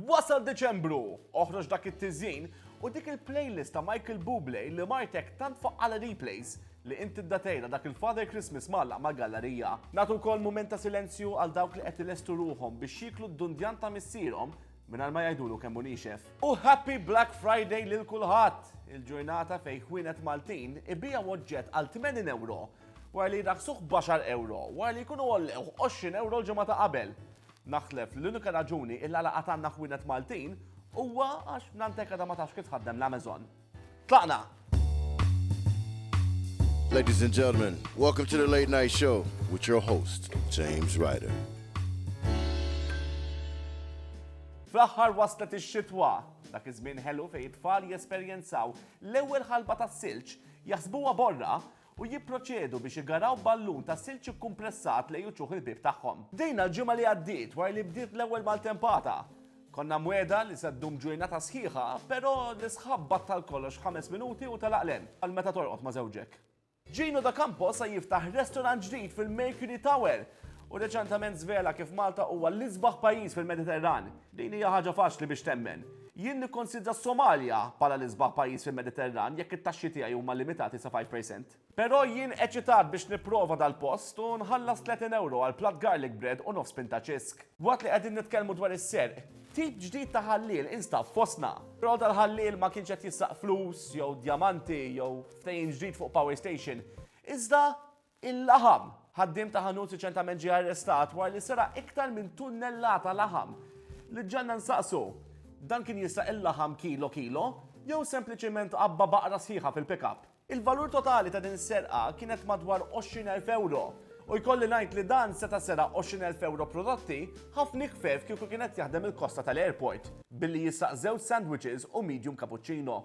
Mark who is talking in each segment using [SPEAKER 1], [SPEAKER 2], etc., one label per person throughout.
[SPEAKER 1] Wasal Diċembru! Oħroġ dak it-tiżjin u dik il-playlist ta' Michael Bublé li martek tant fuq għal replays li inti ddatejla dak il-Father Christmas mgħallaq mal-gallarija. Nagħtu wkoll mument ta' silenzju għal dawk li qed ilestu ruħhom biex jieklu d-dundjan ta' missierhom mingħajr ma jgħidulu kemm hu niexef. U Happy Black Friday lil kulħadd! Il-ġurnata fejn ħwienet Maltin ibiegħu oġġett għal 80 ewro wara li jraħħsuh b'għaxar ewro wara li jkunu għollewh 20 ewro l-ġimgħa ta' qabel. Naħseb li l-unika raġuni il għala għad għandna ħwienet Maltin huwa għax f'Nantec għadha ma tafx kif tħaddem l-Amazon. Tlaqna!
[SPEAKER 2] Ladies and gentlemen, welcome to the Late Night Show with your host, James Ryder.
[SPEAKER 1] Fl-aħħar waslet ix-xitwa, dak iż-żmien ħelu fejn it-tfal jesperjenzaw l-ewwel ħalba tas-silġ, jaħsbuha borra u jipproċedu biex igaraw ballun ta' silġ ikkumpressat lejn uċuħ il-bieb tagħhom. Bdejna l-ġimgħa li għaddiet wara li bdiet l-ewwel maltempata. Konna mwegħda li se ddum ġurnata sħiħa, però l-isħab battal kollox f'ħames minuti u telaq l-għen, bħal meta torqod ma' żewġek. Gino D'Acampo se jiftaħ restorant ġdid fil-Mercury Tower u reċentament żvela kif Malta huwa l-isbaħ pajjiż fil-Mediterran. Din hija ħaġa faċli biex temmen. Jien nikkonsidra s-Somalja bħala l-isbaħ pajjiż fil-Mediterran jekk it-taxxi tiegħi huma limitati sa five percent. Però jien eċitat biex nipprova dal-post u nħallas tletin ewro għal platt garlic bread u nofs pinta ċisk. Waqt li qegħdin nitkellmu dwar is-serq, tip ġdid ta' ħalliel instab fostna. Però dal-ħalliel ma kienx qed jissaq flus jew djamanti jew ftehim ġdid fuq power station, iżda Il-laħam, Ħaddiem ta' ħanut riċentament ġie arrestat wara li seraq iktar minn tunnellata laħam. Li ġġenna nsaqsu, dan kien jisraq il-laħam kilo kilo jew sempliċement għabba baqra sħiħa fil-pick-up? Il-valur totali ta' din is-serqa kienet madwar 20,000 ewro u jkolli ngħid li dan seta' seraq 20,000 ewro prodotti ħafna ikhfef kieku kien qed jaħdem il-kosta tal-airport billi jisraq żewġ sandwiches u medium cappuccino.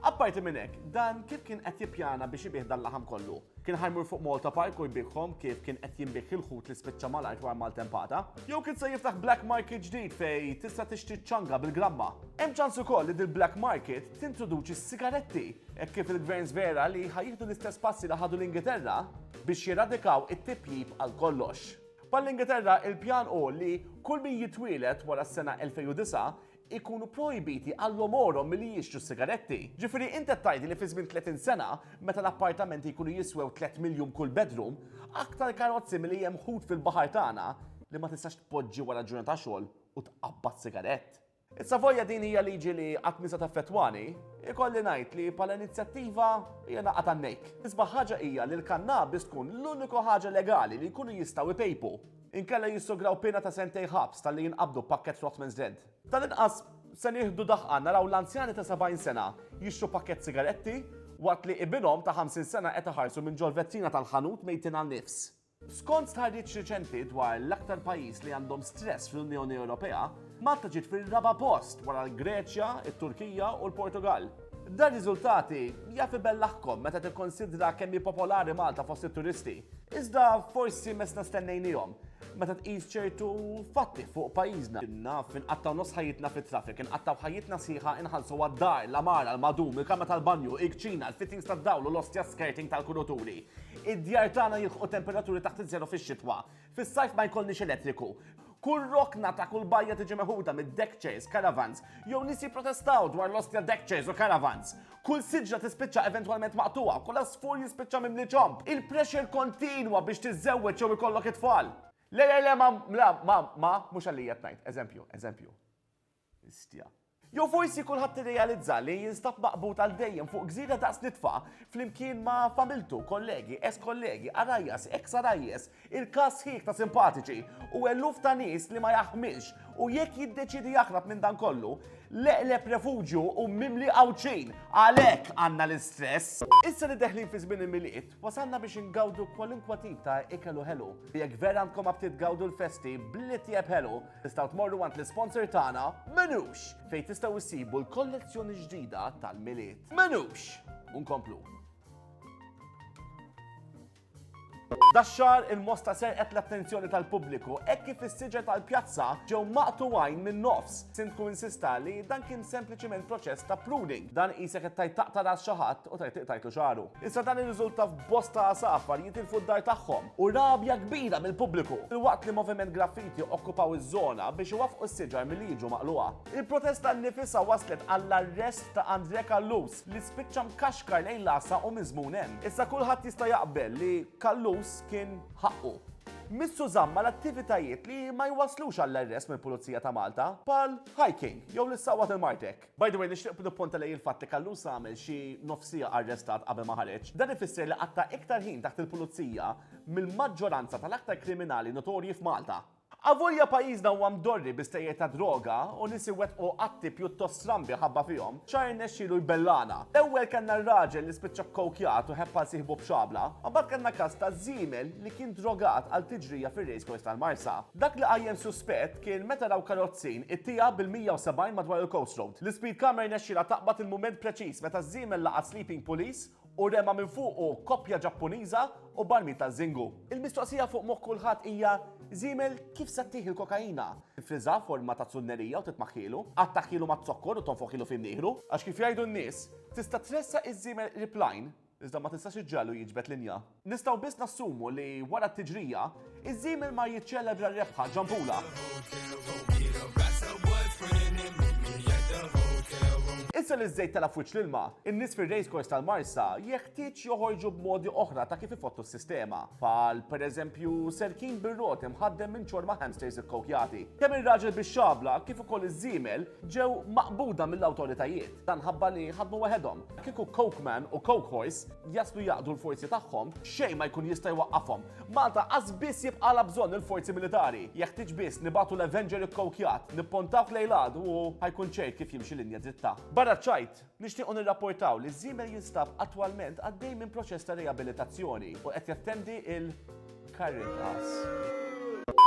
[SPEAKER 1] Apparti minn hekk, dan kif kien qed jippjana biex ibih dal-laħam kollu? Kien ħajmur fuq Malta Park u jbiegħhom kif kien qed jinbiegħ il-ħut li spiċċa mal-art wara maltempata? Jew kien se jiftaħ black market ġdid fejn tista' tixtri ċ-ċanga bil-gramma? Hemm ċans ukoll li dil-black market tintroduċi s-sigaretti hekk kif il-gverns vera li ħa jieħdu l-istess passi li ħadu l-Ingilterra biex jiradikaw it-tipjip għal kollox. Bħall-Ingilterra il-pjan hu li kull min jitwieled wara s-sena 2009 ikunu projbiti għalhom għorhom milli jixtru s-sigaretti. Ġifieri int qed tgħidli li fi żmien 30 sena, meta l-appartamenti jkunu jiswew tliet miljun kull bedroom, aktar karozzi milli hemm ħut fil-baħar tagħna li ma tistax tpoġġi wara ġurnata xogħol u tqabbad sigarett. Is-Savoia din hija liġi li qatt mhi se taffettwani, ikolli ngħid li bħala inizjattiva hija naqgħa tan-nejk. L-isbaħ ħaġa hija li l-kannabis tkun l-uniku ħaġa legali li jkunu jistgħu jpejpu. Inkella jissograw piena ta' sentejn ħabs talli jinqabdu b'pakkett Rothmans Red. Tal-inqas se nieħdu daħqa naraw l-anzjani ta' 70 sena jixtru pakkett sigaretti waqt li ibinhom ta' 50 sena qed iħarsu minn ġol-vetrina tal-ħanut mejtin għan-nifs. Skont stħarriġ riċenti dwar l-aktar pajjiż li għandhom stress fl-Unjoni Ewropea, Malta ġiet fir-raba' post wara l-Greċja, it-Turkija u l-Portugall. Dan riżultati jaf ibellaħkom meta tikkonsidra kemm hi popolari Malta fost it-turisti. Iżda forsi mesna stennejnihom meta tqis ċertu fatti fuq pajjiżna. Naf inqattaw nofs ħajjitna fit-traffic, inqattaw ħajjitna sħiħa inħallsu għad-dar, l-għamara, l-madum, il-kamra tal-banju, il-kċina, il-fittings tad-dawl u l-ostja skirting tal-kuruturi. Id-djar tagħna jilħqu temperaturi taħt iż-żero fix-xitwa. Fis-sajf ma jkollniex elettriku. Kull rokna ta' kull bajja tiġi meħuda mid-deck chairs, caravans, jew nies jipprotestaw dwar l-ostja deck chairs u caravans. Kull siġra tispiċċa eventwalment maqtugħa, kull għasfur jispiċċa mimli ċomb. Il-pressure kontinwa biex tiżżewweġ jew ikollok it-tfal. Le, le, le, ma, la, ma, ma, mhux għalija qed ngħid. Eżempju, eżempju. Histja. Jew forsi kulħadd irrealizza li jinstab maqbud għal dejjem fuq gżira daqs nitfa, flimkien ma' familtu, kollegi, ex kollegi, għarajjas, ex għarajjes, irkaż sħiħ ta' simpatiċi, u eluf ta' nies li ma jaħmilx, u jekk jiddeċiedi jaħrab minn dan kollu, l-eqreb refuġju hu mimli Għawdxin! Għalhekk għandna l-istress! Issa li deħlin fi żmien il-Milied, wasalna biex ingawdu kwalunkwa tip ta' ikel u ħelu. Jekk vera għandkom apptit gawdu l-festi bl-itjeb ħelu. Tistgħu tmorru għand l-isponsor tagħna Menux fejn tistgħu issibu l-kollezzjoni ġdida tal-milied. Menux! Unkomplu. Daxxar il-mosta serqet l-attenzjoni tal-pubbliku hekk kif is-siġer tal-pjazza ġew maqtu għajn minn nofs. Sindku insista li dan kien sempliċiment proċess ta' pruning. Dan qisek qed tajt taqta' ras xi ħadd U tajt tajtu xaru. Issa dan irriżulta f'bosta għasafar jitilfu d-dar tagħhom u rabja kbira mill-pubbliku. Filwaqt li Moviment Graffiti okkupaw iż-żona biex iwaffqu s-siġar milli jiġu maqlugħa. Il-protesta nnifisha wasslet għall-arrest ta' Andrè Callus li spiċċa mkaxkar lejn l-għassa u miżmum hemm. Issa kulħadd jista' jaqbel li Callus kien ħaqqu. Missu żamm mal-attivitajiet li ma jwasslux għall-arrest mill-Pulizija ta' Malta, bħal hiking jew l-issawwa tal-Martek. By the way, nixtieq nippunta lejn il-fatt li Callus għamel xi nofs siegħa arrestat qabel ma ħareġ. Dan ifisser li qatta' iktar ħin taħt il-pulizija mill-maġġoranza tal-aktar kriminali notorji f'Malta. Avolja pajjiżna huwa mdorri bi stejjer ta' droga u nies iwettqu atti pjuttost strambi ħabba fihom, xahar irnexxielu jbellagħna. L-ewwel kellna r-raġel li spiċċa kkowkjat u ħebb għal sieħbu b'xabla, u mbagħad kellna każ ta' żiemel li kien drogat għal tiġrija fir-race course tal-Marsa. Dak li qajjem suspett, Kien meta raw karozzin it-tiegħa bil-170 madwar il-Coast Road. L-Ispeed Camera jnexxielha taqbad il-mument preċiż meta ż-żiemel laqat Sleeping Police u rema minn fuqu koppja Ġappuniża u barmil ta' Zingu. Il-mistoqsija fuq moħħ kulħadd hija, żiemel kif se ttih il-kokaina? Tifriżha forma ta' zunnerija u titmaħħielu? Attakkhielu maz-zokkor u tonfoħhielu f'imnieħru? Għax kif jgħidu n-nies, tista' tressaq iż-żiemel qrib l-għajn, Iżda ma tistax iġġegħlu jiġbed linja. Nistgħu biss nassumu li wara t-tiġrija, iż-żiemel mar jiċċelebra r-rebħa ġambula. Issa li ż-żejt tela' f'wiċċ l-ilma, in-nies fir-racecourse tal-Marsa jeħtieġ joħorġu b'modi oħra ta' kif ifottu s-sistema, bħal pereżempju serkin bir-roti mħaddem minn ċorma hamsters ikkowkjati. Kemm ir-raġel bix-xabla kif ukoll iż-żiemel ġew maqbuda mill-awtoritajiet. Dan ħabba li ħadmu waħedhom. Kieku Coke Man u Coke Horse jaslu jaqdu l-forzi tagħhom, xejn ma jkun jista' jwaqqafhom. Malta qas biss jibqala bżonn il-forzi militari. Jeħtieġ biss nibatu l-Avenger ikkowkjat, nippontawh lejn l-għadu u ħajkun ċert kif jimxi linja dritta. Barra ċ-ċajt, nixtiequ nirrapportaw li Żiemel jinstab attwalment għaddej minn proċess ta' riabilitazzjoni u qed jattendi il-Caritas.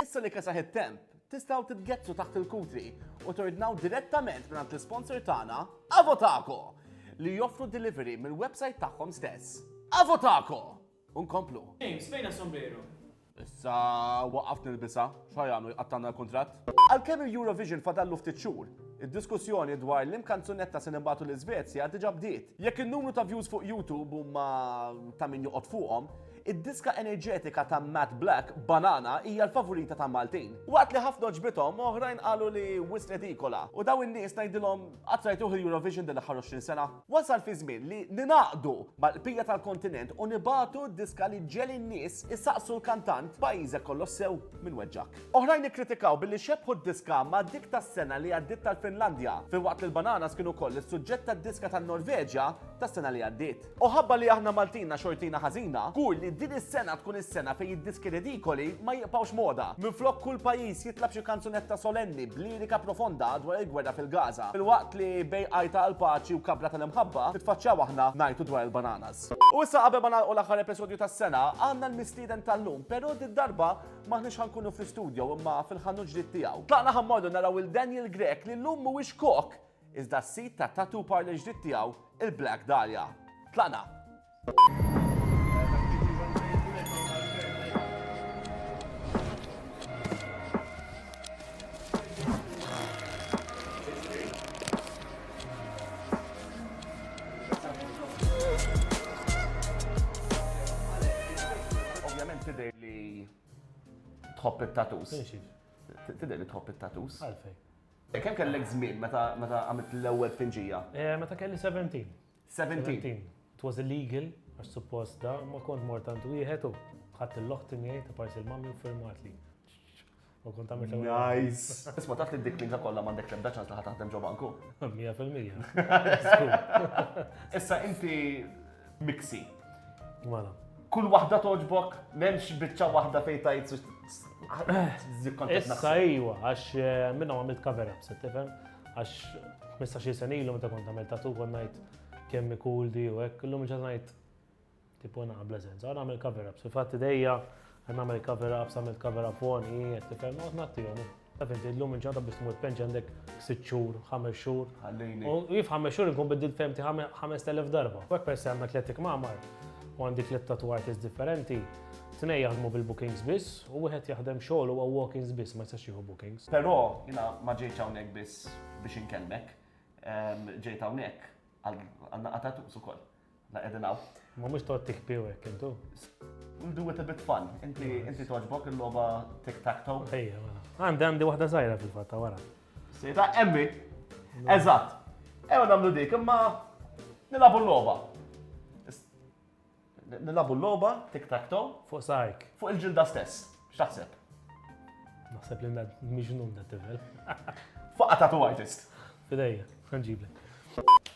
[SPEAKER 1] Issa li kesaħ it-temp, Tistgħu titgezzu taħt il-kutri u tordnaw direttament mingħand l-isponsor tagħna, Avotaco, li joffru delivery mill-website tagħhom stess. Avotaco! Unkomplu. James, fejn
[SPEAKER 3] sombrero? Issa
[SPEAKER 1] waqaft nilbisa, xajanu jqattanna l-kontrat. Għalkemm il-Eurovision fadallu ftit xhur, id-diskussjoni dwar l-im kanzunetta se nibatu l-Iżvezja diġa bdiet. Jekk in-numru ta' views fuq YouTube huma ta' min joqgħod fuqhom, Id-diska enerġetika ta' Matt Black, Banana, hija l-favorita ta' Maltin. Waqt li ħafna għoġbithom, oħrajn qalu li wisq redikola. U dawn in-nies ngħidilhom, qatt rajtuh il-Eurovision din l-aħħar 20 sena? Wasal fi żmien li ningħaqdu mal-bqija tal-kontinent u nibagħtu d-diska li ġġegħel in-nies isaqsu l-kantant, Pajjiżek kollox sew minn weġġgħek. Oħrajn ikkritikaw billi xebbħu d-diska ma' dik tas-sena li għaddiet tal-Finlandja, filwaqt li l-Bananas kien ukoll is-suġġett tad-diska tan-Norveġja tas-sena li għaddiet. U ħabba li aħna Maltin na xortina ħażina, żgur li din is-sena tkun is-sena fejn id-diski ridikoli ma jiqbgħux moda. Minflok kull pajjiż jitlab xi kanzunetta solenni b'lirika profonda dwar il-gwerra fil-Gaza, filwaqt li bejn għajta għall-paċi u kabra tal-imħabba nitfaċċjaw aħna ngħajtu dwar il-bananas. U issa qabel ma nagħlqu l-aħħar episodju tas-sena, għandna l-mistieden tal-lum, però did-darba m'aħniex ħa nkunu fl-istudjo imma fil-ħanut ġdid tiegħu. Tlaqna ħa mmorru naraw 'il Daniel Grech li llum mhuwiex kok, Iżda s-sid tat-tattoo parlor ġdid tiegħu, il-Black Dahlia. Tlaqna! Ovvjament tidher li tħobb it-tattoos. Tidher li tħobb it-tattoos. Għalfej. E
[SPEAKER 3] kemm kellek
[SPEAKER 1] żmien meta meta għamilt l-ewwel tpinġija? E meta kelli seventeen.
[SPEAKER 3] Seventeen?
[SPEAKER 1] Seventeen. It was
[SPEAKER 3] illegal, għax suppost da, ma kont mort għand wieħed u ħadd il-loħti miegħi ta' parsi l-mammi u firmatli. U kont għamilt l-ewwel. Nice. Isma'
[SPEAKER 1] taf li dik minka kollha m'għandek l-ebda ċans li ħadd taħdem ġo banku. Mija fil-mija. Issa inti miksi. Mela.
[SPEAKER 3] Kull waħda
[SPEAKER 1] toġbok, memx bicċa waħda fej tajt Issa
[SPEAKER 3] iwa, għax eh, minna għamilt cover up, se tifem, għax 15 sen ilu meta kont għamilt tatu kon najt kemmi cool di u ek, l-lum ġat najt tipo naqbla senza, għan għamil cover up, fil-fatti dejja Qed nagħmel cover up, s'għamilt cover up on, hi qed tifhem, noqgħod ngħattihom. Taf inti llum il-ġurnata biex tmur penġ għandek sitt xhur, ħames xhur. Ħallini. U jif ħames xhur inkun biddil femti 5000 darba. Wek per se għandna tletik mamar u għandi tliet tattoo artists differenti, tnej jaħdmu bil-bookings biss u wieħed jaħdem xogħol huwa walk-ins biss ma jistax jieħu bookings. Però jiena ma
[SPEAKER 1] ġejtx hawnhekk biss biex inkellmek, ġejt hawnhekk għal naqgħa tattoos ukoll. La qegħdin hawn. Ma mhux toqgħod tikpi
[SPEAKER 3] hekk intu. We'll do
[SPEAKER 1] it a bit fun. Inti inti toġbok il-logħba tic tac toe. Ejja, mela. Għandi
[SPEAKER 3] għandi waħda żgħira fil-fatt ta' wara. Sejta emmi.
[SPEAKER 1] Eżatt. Ejja nagħmlu dik imma nilabu l-logħba. Nilabu l-logħba tic tac toe. Fuq sajk.
[SPEAKER 3] Fuq il-ġilda stess.
[SPEAKER 1] X'taħseb?
[SPEAKER 3] Naħseb li miġnun da tifel. Fuq ta'
[SPEAKER 1] tu artist. Fidejja,
[SPEAKER 3] ħanġiblek.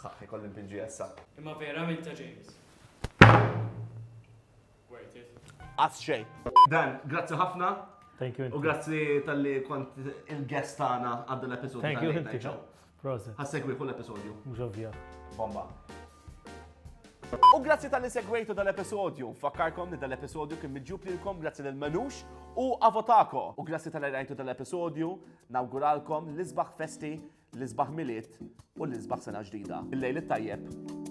[SPEAKER 1] Ħaħ, ikolli npinġi essa. Imma vera minn ta'
[SPEAKER 4] James. Worth it. Qatt xejn.
[SPEAKER 1] Dan, grazzi ħafna. Thank you. U grazzi
[SPEAKER 3] tal-li
[SPEAKER 1] kont il-guest tagħna għad l-episodju. Thank you.
[SPEAKER 3] Proset. Ħassegwi kull episodju.
[SPEAKER 1] Mhux ovvja.
[SPEAKER 3] Bomba.
[SPEAKER 1] U grazzi tal-li segwejtu dal-episodju. Fakkarkom li dal-episodju kien miġġub lilkom grazzi lil Manux u Avotako. U grazzi tal-li rajtu dal-episodju, nawguralkom l-isbaħ festi, l-isbaħ miliet u l-isbaħ sena ġdida. Il-lejl tajjeb.